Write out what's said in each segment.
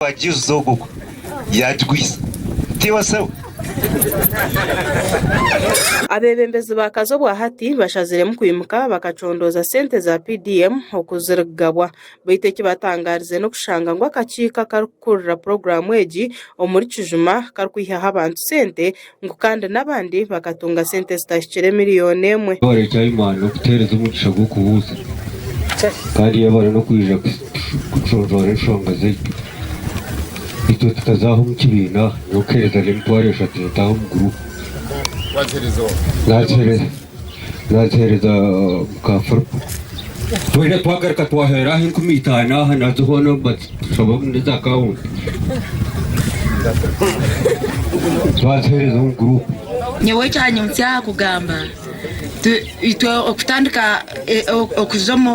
wa Jesus ogwo ogwo yagigwisa tiwe sewe. Abeebembezi ba Kazo obwa hati bashaziremu kwimuka bakacondooza sente za PDM oku zirikugabwa beitu ekibatangaarize n'okushanga ngu akakiiko akarikukurira puroguraamu egi omuri Kijuma karikwihyaho abantu sente ngu kandi n'abandi bakatunga sente zitahikire miriyoni emwe. Yaaba ari eky'aimani n'okutuheereza omugisha gw'okubuuza, kandi yaaba ari n'okwija kuconcoora enshonga zaitu, itwe tukazaaha omu kibiina nyowe kuheereza n'emitwaro eshatu nitaaha omu guruupu. Naaziheereza muka Firipo. Twena twagaruka twaheera aha enkumi itaano aha nazo hoona batushabamu n'eza akawunti. Twaziheereza omu guruupu. Nyowe ekyanyimukya aha kugamba itwe okutandika okuza omu.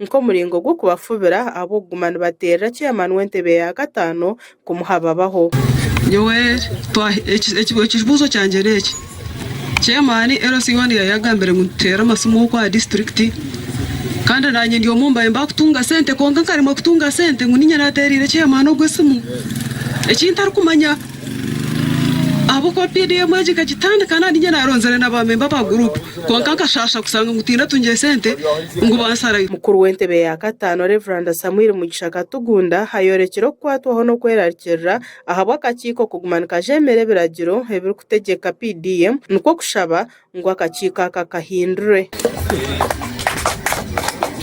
nk'omuringo gw'okubafubira ahabw'okuguma nibateerera chairman w'entebe ya kataano kumuha babaho. Nyowe twaha ekibuuzo kyangye n'eki, chairman LC one yayagambire ngu nituteera amasimu okwo aha disiturikiti kandi naanye ndi omu mbaire mbakutunga sente kwonka nkaremwa kutunga sente ngu niinye naateereire chairman ogwo esimu ekintarikumanya. Ahabw'okuba pda emwe egyo ekagitandika nari inye naaronzire na baamemba ba guruupu kwonka nkashaasha kushanga ngu tihaine atungire sente ngu bansarayo. Mukuru w'entebe ya kataano Rev Samuel Mugisha Katugunda ayoorekire okukwatwaho n'okwerarikirira ahabw'akakiiko kuguma nikajeemera ebiragiro ebirikutegyeka pda emwe nikwo kushaba ngu akakiiko aka kahindurwe.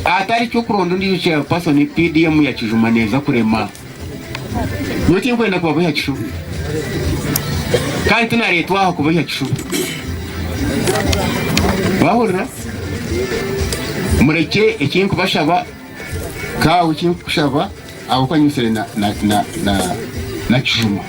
Hatari ky'okuronda ondiijo chairpersoni, PDM ya kijuma neeza kurema. Nyowe tinkwenda kubabohya kishubi kandi tinareetwa aha kubohya kishubi. Mwahurira? Murekye eki nkubashaba. Kaawe eki nkukushaba, ahabw'okuba nyimitsire na kijuma,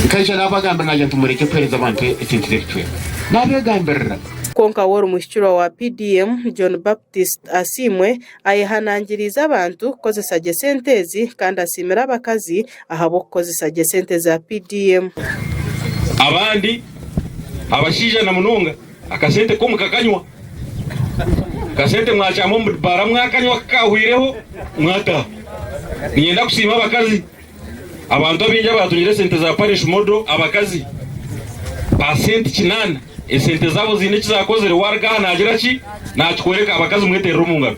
nkaija naabagambira naagira nti murekye kuheereza abantu esente z'ebicweka. Naabeegambirira. Kwonka wori muhikirwa wa PDM, John Baptist Asiimwe, ayehanangiriize abantu kukozesa gye sente ezi kandi asiimire abakazi ahabw'okukozesa gye sente za PDM. Abandi abashaija na munonga Akasente ko mukakanywa? Akasente mwakyama omu bibaara mwakanywa ku kaahweireho mwataha? Niinyenda kusiima abakazi. Abantu abaingi abaatungire esente za parish model, abakazi ba senti kinaana. Esente zaabo ziine eki zaakozire. Waaruga aha naagira ki? Naakikworeka. Abakazi mweterere omu ngaro.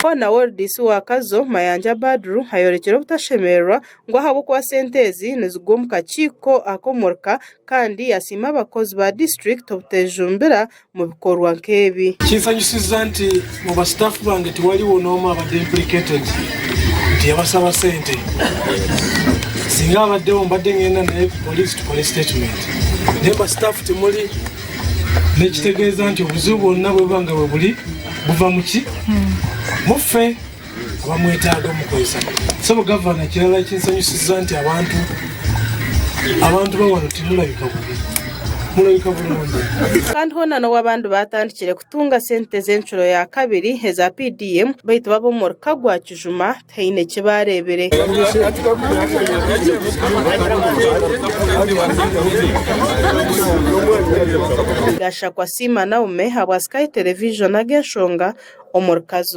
Hoona World isi wa Kazo, Mayanja Badru ayoorekire obutashemererwa ngu ahabw'okuba sente ezi nizigwa omu kakiiko ak'omurka kandi yasiima abakozi ba disiturikiti obutejumbira mu bikorwa nk'ebi. Kinsanyusiza nti mu ba staff bange tiwariwo n'omwe abade implicated nti yabasaba sente. Singa abadeho mbade ngenda naye ku poliisi tukore statement. Naye ba staff timuri n'ekitegeeza nti obuzibu bwona bwebuba nga buri buva muki? Mufe. kuba mwetaaga omu kukoresa so gavana ekirala ekinsanyusiza nti abantu abantu bawano timurabika bubi murabika burungi kandi hoona n'obu abandi baatandikire kutunga sente z'encuro ya kabiri eza PDM baitu bo ab'omuri Kagwa Kijuma tihaine eki baareebire. Gashakwa Siima Naume ahabwa Sky Television ag'enshonga omuri Kazo.